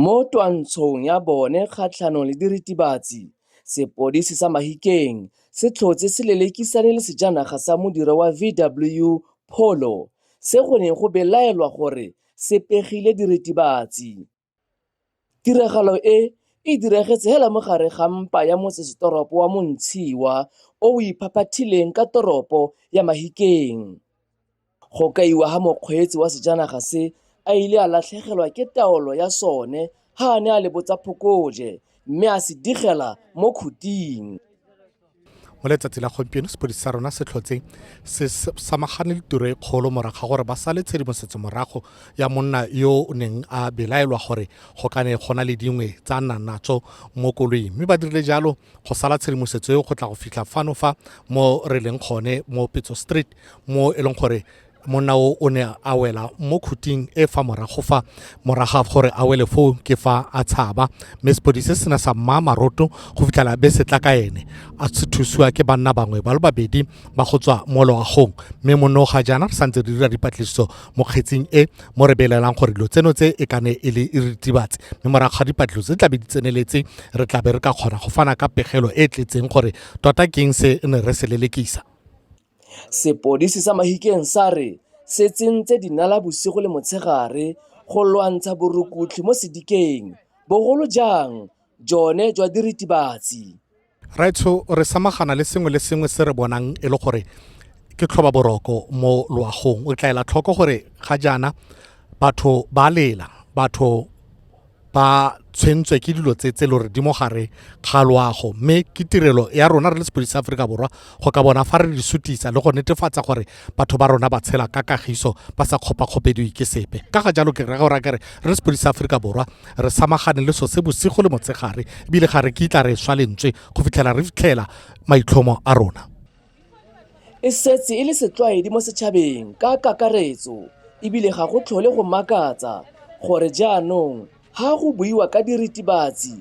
Mo twantshong ya bone kgatlhanong le diritibatsi, sepodisi sa Mahikeng se tlhotse se lelekisane le sejanaga sa modira wa VW Polo se go neng go belaelwa gore se pegile diritibatsi. Tiragalo e, e diragetse hela mo gare ga mpa ya motsesetoropo wa Montshiwa o o iphaphathileng ka toropo ya Mahikeng. Go kaiwa ga mokgweetsi wa sejanaga se a ile a latlhegelwa ke taolo ya sone ha a ne a lebotsa phokoje mme a se digela mo khuting. mo letsatsi la gompieno sepodisi sa rona se tlhotse se samagane le tiro e kgolo morago ga gore ba sale tshedimosetso morago ya monna yo o neng a belaelwa gore go ka ne go na le dingwe tsa nna natso mo koloing mme ba dirile jalo go sala tshedimosetso eo go tla go fitlha fano fa mo re leng gone mo petso street mo e leng gore monna o o ne a wela mo khuting e fa morago fa moraga gore a wele foo ke fa a tshaba mme sepodise se ne sa mmaa maroto go fitlhela be se tla ka ene a se thusiwa ke banna bangwe ba le babedi ba go tswa mo loagong mme monno ga jaana re santse re dira dipatlisiso mo kgetsing e mo re belelang gore dilo tseno tse e kane e le e ritibatse mme morago ga dipatlisiso tse tlabe di tseneletse re tlabe re ka kgona go fana ka pegelo e e tletseng gore tota keng se ne re se lelekisa Sepodisi sa Mahikeng sa re se tsentse dinala bosigo le motshegare go lwantsha borukutlhi mo sedikeng, bogolo jang jone jwa diritibatsi. Rraetsho, re samagana le sengwe le sengwe se re bonang e le gore ke tlhoba boroko mo loagong. O tla ela tlhoko gore ga jaana batho ba lela, batho ba tshwentswe ke dilo tse tse lo re di mo gare ga loago mme ke tirelo ya rona re le sepodisi sa aforika borwa go ka bona fa re di sutisa le go netefatsa gore batho ba rona ba tshela ka kagiso ba sa kgopakgopediwe ke sepe ka ga jalo ke rega gore kere re le sepodisi sa aforika borwa re samagane le so se bosigo le motshegare ebile ga re kitla re swa lentswe go fitlhela re fitlhela maitlhomo a rona e setse e le setlwaedi mo setšhabeng ka kakaretso ebile ga go tlhole go makatsa gore jaanong ha go buiwa ka diritibatsi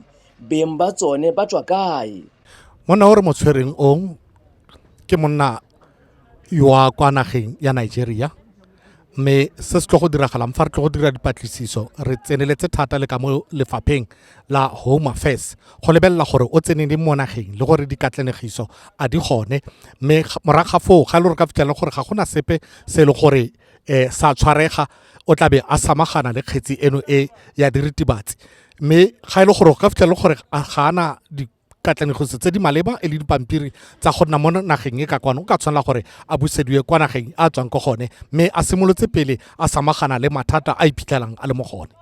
beng ba tsone ba tswa kae monna o re mo tshwereng ong ke monna wa kwa nageng ya nigeria mme se se tlo go diragalang fa re tlo go dira dipatlisiso re tseneletse thata le ka mo lefapheng la home affairs go lebelela gore o tsene le mo nageng le gore dikatlanegiso a di gone mme morago ga foo ga e le gore ka fitlhela gore ga gona sepe se e le gore um sa tshwarega o tlabe a samagana le kgetsi eno e ya diritibatsi mme ga e le gore o ka fitlhela gore ga ana katlanegiso tse di maleba e le dipampiri tsa go nna mo nageng e ka kwana o ka tshwanela gore a busediwe kwa nageng a tswang ko gone mme a simolotse pele a samagana le mathata a iphitlhelang a le mo gone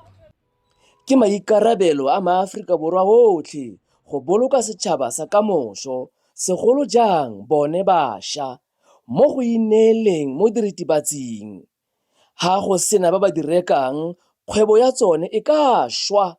ke maikarabelo a maaforika borwa otlhe go boloka setšhaba sa kamoso segolo jang bone basha mo go ineeleng mo diritibatsing ga go sena ba ba di rekang kgwebo ya tsone e ka šwa